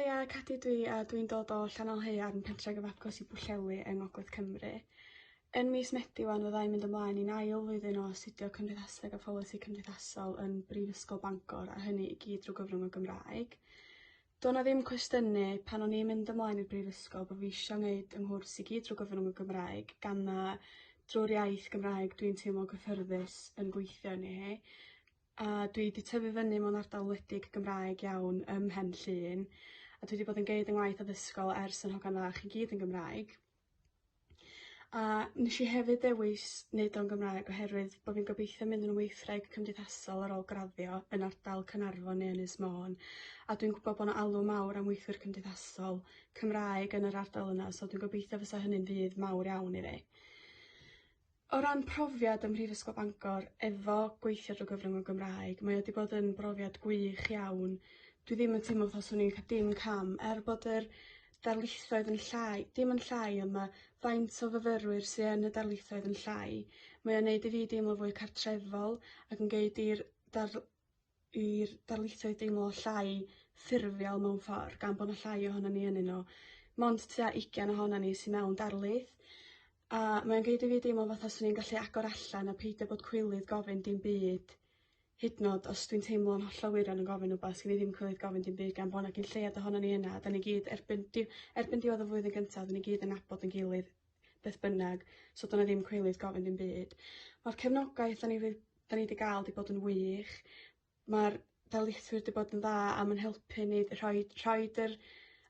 Haia, Cadi dwi a dwi'n dod o Llanelhaearn, pentre gyfagos i Bwllheli yng Ngogledd Cymru. Yn mis Medi wan fyddai'n mynd ymlaen i'n ail flwyddyn o astudio Cymdeithaseg a Pholisi Cymdeithasol yn Brifysgol Bangor a hynny i gyd drwy gyfrwng y Gymraeg. Doedd 'na ddim cwestiynu pan o'n i'n mynd ymlaen i'r brifysgol bod fi eisiau wneud 'y nghwrs i gyd drwy gyfrwng y Gymraeg gan na drwy'r iaith Gymraeg dwi'n teimlo cyffyrddus yn gweithio arni hi a dwi 'di tyfu fyny mewn ardal wledig Gymraeg iawn ym Mhen Llŷn a dwi 'di bod yn gneud 'y ngwaith addysgol ers yn hogan fach i gyd yn Gymraeg. A nes i hefyd ddewis neud o'n Gymraeg oherwydd bo' fi'n gobeithio mynd yn weithwraig cymdeithasol ar ôl graddio yn ardal Caernarfon neu Ynys Môn a dwi'n gwbod bo' 'na alw mawr am weithwyr cymdeithasol Cymraeg yn yr ardal yna so dwi'n gobeithio fysa hynny'n fudd mawr iawn i fi. O ran profiad ym Mhrifysgol Bangor efo gweithio drwy gyfrwng y Gymraeg, mae o wedi bod yn brofiad gwych iawn. Dwi ddim yn teimlo fel swn i'n cael dim cam, er bod yr darlithoedd yn llai, dim yn llai, ond mae faint o fyfyrwyr sydd yn y darlithoedd yn llai. Mae o'n neud i fi deimlo fwy cartrefol ac yn geid i'r dar- i'r darlithoedd deimlo llai ffurfiol mewn ffordd gan bod 'na llai ohonon ni ynnyn nhw. Mond tua 20 ohonon ni sy mewn darlith a mae'n gneud i fi deimlo fatha swn i'n gallu agor allan a peidio bod cwilydd gofyn dim byd hyd yn o'd os dwi'n teimlo'n hollol wir yn gofyn rwbath swn i ddim cwilydd gofyn dim byd gan bo' 'na cyn lleied ohonon ni yna a 'dan ni gyd erbyn di- erbyn diwedd y flwyddyn gynta 'dyn ni gyd yn nabod ein gilydd beth bynnag, so dyna ddim cweilydd gofyn dim byd. Mae'r cefnogaeth da ni, da ni wedi gael wedi bod yn wych, mae'r darlithwyr wedi bod yn dda a mae'n helpu ni rhoi, rhoi yr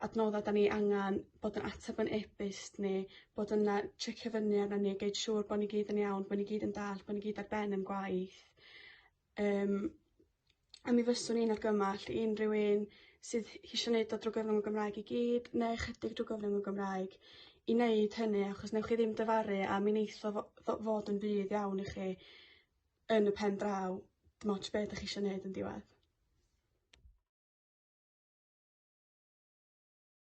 adnoddau da ni angen, bod yn ateb yn e-byst ni, bod yna checio fyny arna ni, gwneud siŵr bod ni gyd yn iawn, bod ni gyd yn dall, bod ni gyd ar ben yn gwaith. Yym a mi fyswn i'n argymell i unrhyw un sydd eisiau neud o drwy gyfrwng y Gymraeg i gyd neu ychydig drwy gyfrwng y Gymraeg i neud hynny achos newch chi ddim dyfaru a mi neith o fo- fod yn fudd iawn i chi yn y pen draw dim ots be' 'dach chi isio neud yn diwedd.